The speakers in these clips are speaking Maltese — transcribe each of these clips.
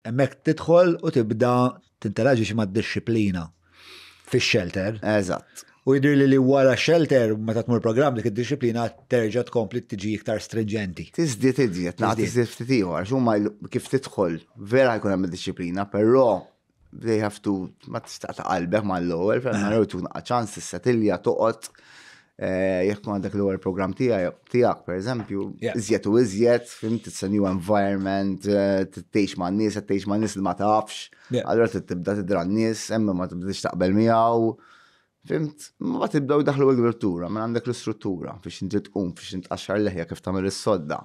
Hemmhekk tidħol u tibda tinteraġix mad-dixxiplina fix-shelter. Eżatt. U jidri li li wara shelter, meta tmur program dik id-disciplina terġa tkompli tiġi iktar stringenti. Tizdiet iżjed, naqt iżjed ftit ieħor, xumma kif tidħol, vera jkun hemm disciplina, però they have to ma tista' ta' qalbek mal-ewwel, ferma jew tkun ċans tissetilja toqgħod Eh, jekk ma għandek l-ewwel programm tiegħek, pereżempju, iżjed u iżjed, fim titsa new environment, eh, tgħix ma' nies, qed tgħix ma' nies li ma tafx, allura tibda tidra n-nies, hemm ma tibdix taqbel miegħu. Fimt, ma tibdaw daħlu l-grittura, ma mela għandek l-istruttura biex inti tqum, biex inti tqaxxar leħja kif tagħmel is-sodda.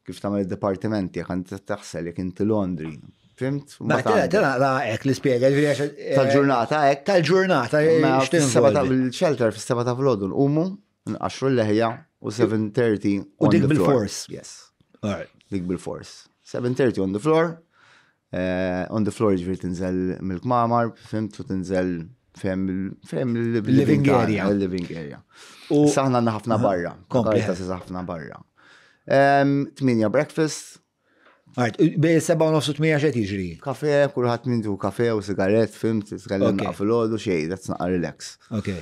Kif tagħmel id-dipartiment tiegħek għand taħsel jekk inti Londri. Fimt? Ma tara hekk li spjega eh, tal-ġurnata hekk. Tal-ġurnata fil-shelter fis-seba ta' vlodu nqumu nqaxxu l-leħja u 7:30 u dik bil-fors. Yes. Dik bil-fors. 7:30 on the floor. Eh, on the floor ġviri tinżel mill-kmamar, fimt u tinżel fem il-living area. Il-living area. U saħna għanna ħafna barra. Kompleta sa ħafna barra. Tminja breakfast. Għart, bej seba u nofsu tmija xed iġri. Kafe, kullħat mindu kafe u sigaret, fimt, tkellimna fil-ħodu xej, that's not relax. Okay.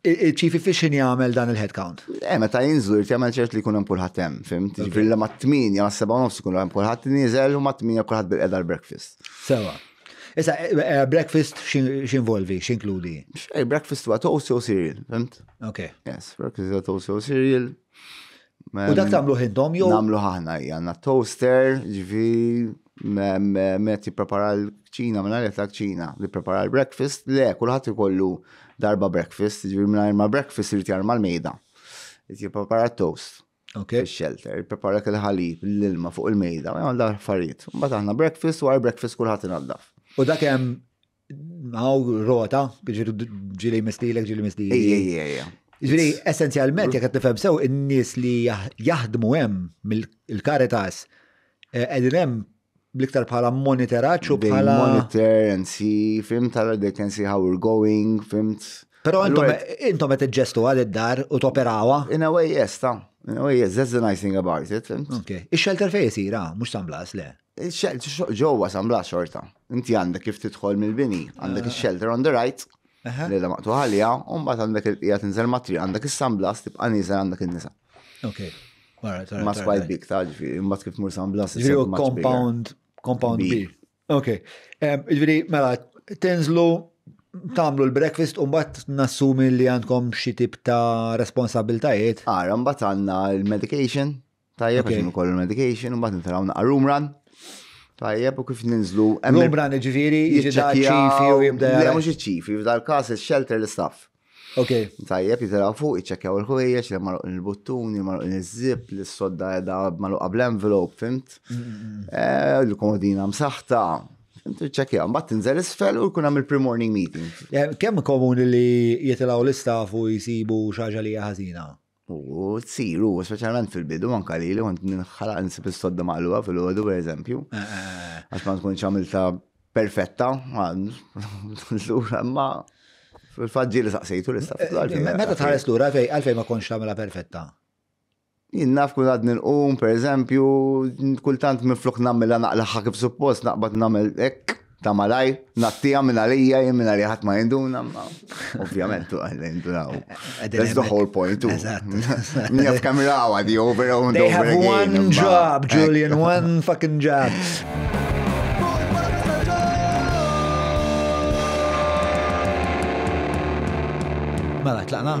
Chief Efficient jagħmel dan il-headcount. Eh, meta jinżlu jrid jagħmel ċert li jkun hemm kulħadd hemm, fim? Ġifieri li mat-8 ma' 7 nofs ikun hemm kulħadd nieżel u mat-8 kulħadd bil-qeda l-breakfast. Sewa. Issa, eh, eh, breakfast x'involvi, x'inkludi? Xej, breakfast huwa toast jew cereal, fimt? Ok. Yes, breakfast huwa toast jew cereal. U dak tagħmlu ħindhom jew? Nagħmlu ħahna hija għandna toaster, ġifi met jipprepara l-kċina, minna għalet l-kċina, li prepara l-breakfast, le, kullħat ikollu darba breakfast, ġivir minna ma breakfast irrit jarma l-mejda. Jipprepara toast. Ok. Shelter, prepara il-ħalib, l-ilma fuq il-mejda, għal dar affarijiet. Mbagħad aħna breakfast, wara breakfast kulħadd inaddaf. U dak hemm Għaw, rota, ġiri ġili mistilek, ġili mistilek. Ejja, ejja, ejja. Ġiri, essenzjalment, jek għattifem sew, in-nis li jaħdmu hemm mill-karitas, eh, edin hemm bliktar bħala monitoraċ u bħala. Monitor and see, fim tara they can see how we're going, fimt. Pero intom għet ġestu għal id-dar u toperawa. In a way, yes, ta' Oh yes, that's the nice thing about it. Okay. Ix-shelter fej jisira, mux San Blas, le. Il-xelt, ġewwa San Blas xorta. Inti għandek kif tidħol mill-bini, għandek ah. il-shelter on the right, li la maqtu għalija, un bat għandek il-qija tinżel matri, għandek il-San Blas, tibqa niżel għandek il-nisa. Ok. Ma squad big ta' ġifi, imbat kif mur San Blas. Ġifi compound, compound B. Ok. Ġifi, mela, tinżlu tamlu l-breakfast un bat nassumi li għandkom xi tip ta' responsabiltajiet. Għara, un bat għanna l-medication, Tajjeb, għax ukoll il-medication, u mbagħad nitraw naqra room run. Tajjeb, u kif ninżlu. Room run ġifieri, ċifi u jibda. Le, mhux iċ-ċifi, f'dal każ il-shelter l-istaff. Ok. Tajjeb, jitraw fuq, iċċekjaw il-ħwejjeġ, li marruq il-buttuni, marruq il-zip, li s-sodda edha marruq qabl envelop, fimt? Eh, Il-komodina msaħta, Intu ċekja, mbatt tinżel isfel u jkun hemm il-pre-morning meeting. Kemm komuni li jitilgħu l-istaff u jisibu xaġa li ħażina? U tsir, u speċjalment fil-bidu, anka li li kont nħalaq nsib is-sodda maqluba fil-ħodu, per eżempju. Eh, eh, eh. Għax ma tkunx għamilta perfetta, l-ura ma fil-fadġi li saqsejtu li staf. Meta tħares l-ura fej, għalfej ma konx għamilha perfetta? Jinnaf kull għad nil-qum, per eżempju, kultant minn flok namela naqlaħħa kif suppost, naqbad namel ek, Ta' malajr, nattija minn għalija, jien minn għalija ħadd ma jinduna, ma ovvjament tu għalli jindunaw. That's the whole point tu. Mija f'kemm rawa di over and over again. They have one job, Julian, one fucking job. Mela, tlaqna?